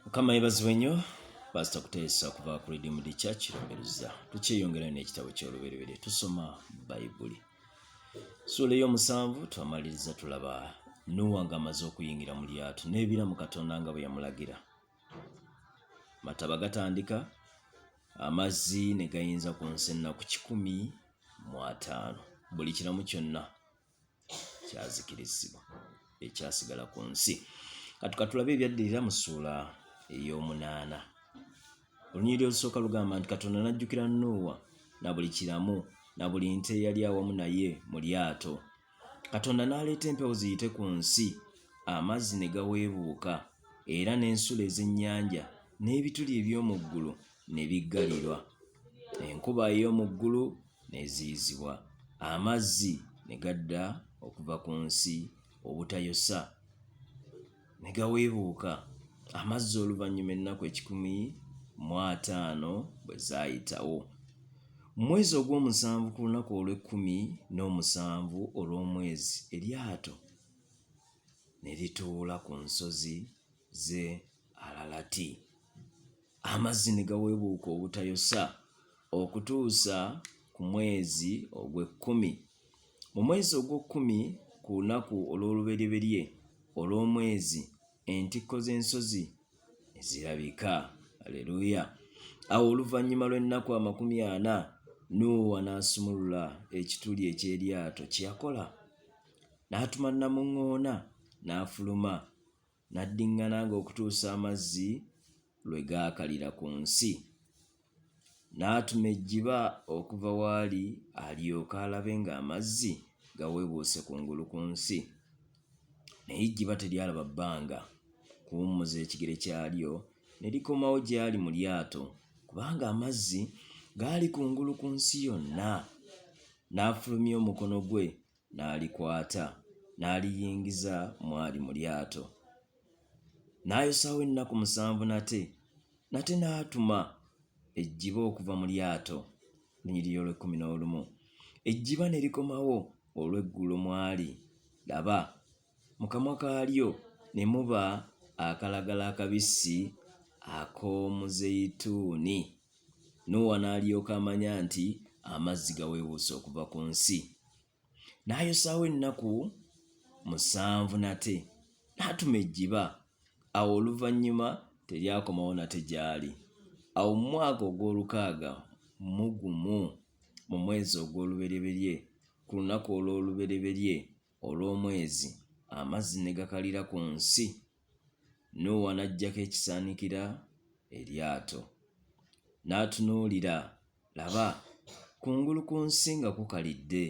mukama yebazibwe nnyo pasita kuteesa okuva ku redeemed church lumberuza tukyeyongerayo n'ekitabo ky'olubereberye tusoma bayibuli suula ey'omusanvu twamaliriza tulaba nuwa nga amaze okuyingira mu lyato n'ebiramu katonda nga bwe yamulagira mataba gatandika amazzi ne gayinza ku nsi ennaku kikumi mu ataano buli kiramu kyonna kyazikirizibwa ekyasigala ku nsi kati katulabe ebyaddirira mu ssuula ey'omunaana olunyiriri olusooka lugamba nti katonda n'ajjukira nuuwa na buli kiramu na buli nte eyali awamu naye mu lyato katonda n'aleeta empewo ziyite ku nsi amazzi ne gaweebuuka era n'ensulo ez'ennyanja n'ebituli eby'omu ggulu ne biggalirwa, enkuba ey'omu ggulu n'eziyizibwa, amazzi ne gadda okuva ku nsi obutayosa, ne gaweebuuka, amazzi oluvannyuma ennaku ekikumi mu ataano bwe zaayitawo. Mu mwezi ogw'omusanvu ku lunaku olw'ekkumi n'omusanvu olw'omwezi, eryato ne lituula ku nsozi ze alalati amazzi ne gaweebuuka obutayosa okutuusa ku mwezi ogw'ekkumi mu mwezi ogw'okkumi ku lunaku olw'oluberyeberye olw'omwezi entikko z'ensozi ne zirabika aleluya awo oluvannyuma lw'ennaku amakumi ana nuuwa n'asumulula ekituli eky'eryato kye yakola n'atuma namuŋŋoona n'afuluma N'addiŋŋananga okutuusa amazzi lwe gaakalira ku nsi. N'atuma ejjiba okuva w'ali alyoke alabe ng'amazzi gaweebuuse ku ngulu ku nsi. Naye ejjiba teryalaba bbanga kuwummuza ekigere kyalyo ne likomawo gy'ali mu lyato, kubanga amazzi gaali ku ngulu ku nsi yonna. N'afulumya omukono gwe n'alikwata n'aliyingiza mwali mu lyato. N'ayosaawo ennaku musanvu nate, nate n'atuma ejjiba okuva mu lyato, lunyiriri olw'ekkumi n'olumu. Ejjiba ne likomawo olw'eggulo mwali, laba, Mu kamwa kaalyo ne muba akalagala akabisi ak'omuzeyituuni. Nuuwa n'alyoka amanya nti amazzi gaweebuuse okuva ku nsi. N'ayosaawo ennaku musanvu nate, n'atuma ejjiba. Awo oluvannyuma teryakomawo nate gy'ali. Awo mu mwaka ogw'olukaaga mu gumu, mu mwezi ogw'olubereberye, ku lunaku olw'olubereberye, olw'omwezi amazzi ne gakalira ku nsi, Nuuwa n'aggyako ekisaanikira eryato. N'atunuulira, laba, kungulu ku nsi nga kukalidde.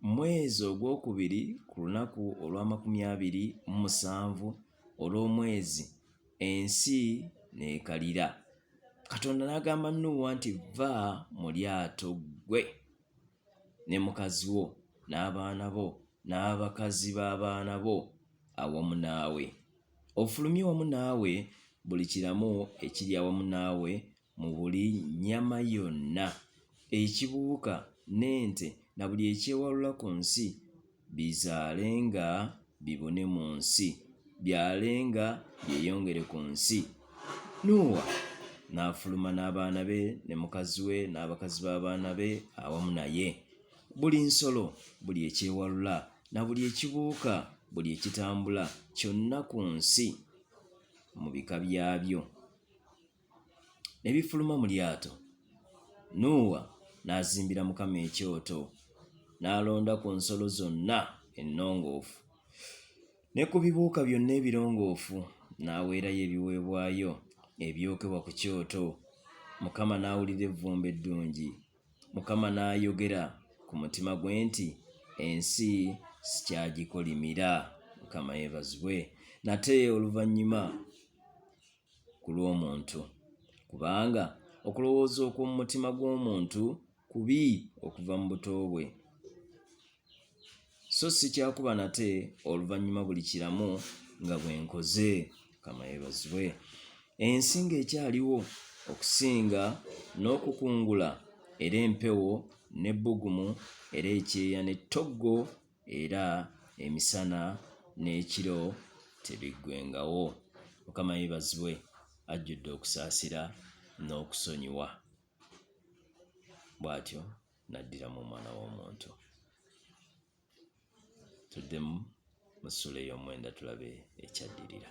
Mu mwezi ogwokubiri ku lunaku olw'amakumi abiri mu musanvu olw'omwezi, ensi n'ekalira. Katonda n'agamba Nuuwa nti, Vva mu lyato ggwe ne mukazi wo, n'abaana bo, n'abakazi b'abaana bo, awamu naawe. Ofulumye wamu naawe buli kiramu ekiri awamu naawe mu buli nnyama yonna, ekibuuka, n'ente, na buli ekyewalula ku nsi, Bizaalenga bibune mu nsi, byalenga byeyongere ku nsi. Nuuwa n'afuluma n'abaana be ne mukazi we n'abakazi b'abaana be awamu naye. Buli nsolo, buli ekyewalula, na buli ekibuuka, buli ekitambula kyonna ku nsi mu bika byabyo. ne bifuluma mu lyato. Nuuwa n'azimbira Mukama ekyoto, n'alonda ku nsolo zonna ennongoofu ne ku bibuuka byonna ebirongoofu, n'aweerayo ebiweebwayo ebyokebwa ku kyoto. Mukama n'awulira evvumbe eddungi. Mukama n'ayogera ku mutima gwe nti, Ensi sikyagikolimira. Mukama yeebazibwe. Nate oluvannyuma ku lw'omuntu, kubanga okulowooza okw'omu mutima gw'omuntu kubi okuva mu buto bwe, so si kyakuba nate oluvannyuma buli kiramu nga bwe nkoze. Mukama yeebazibwe. Ensi ng'ekyaliwo okusinga n'okukungula era empewo n'ebbugumu era ekyeya n'ettoggo era emisana n'ekiro tebiggwengawo. Mukama yebazibwe ajjudde okusaasira n'okusonyiwa. Bw'atyo n'addiramu omwana w'omuntu. Tuddemu mu ssula ey'omwenda tulabe ekyaddirira.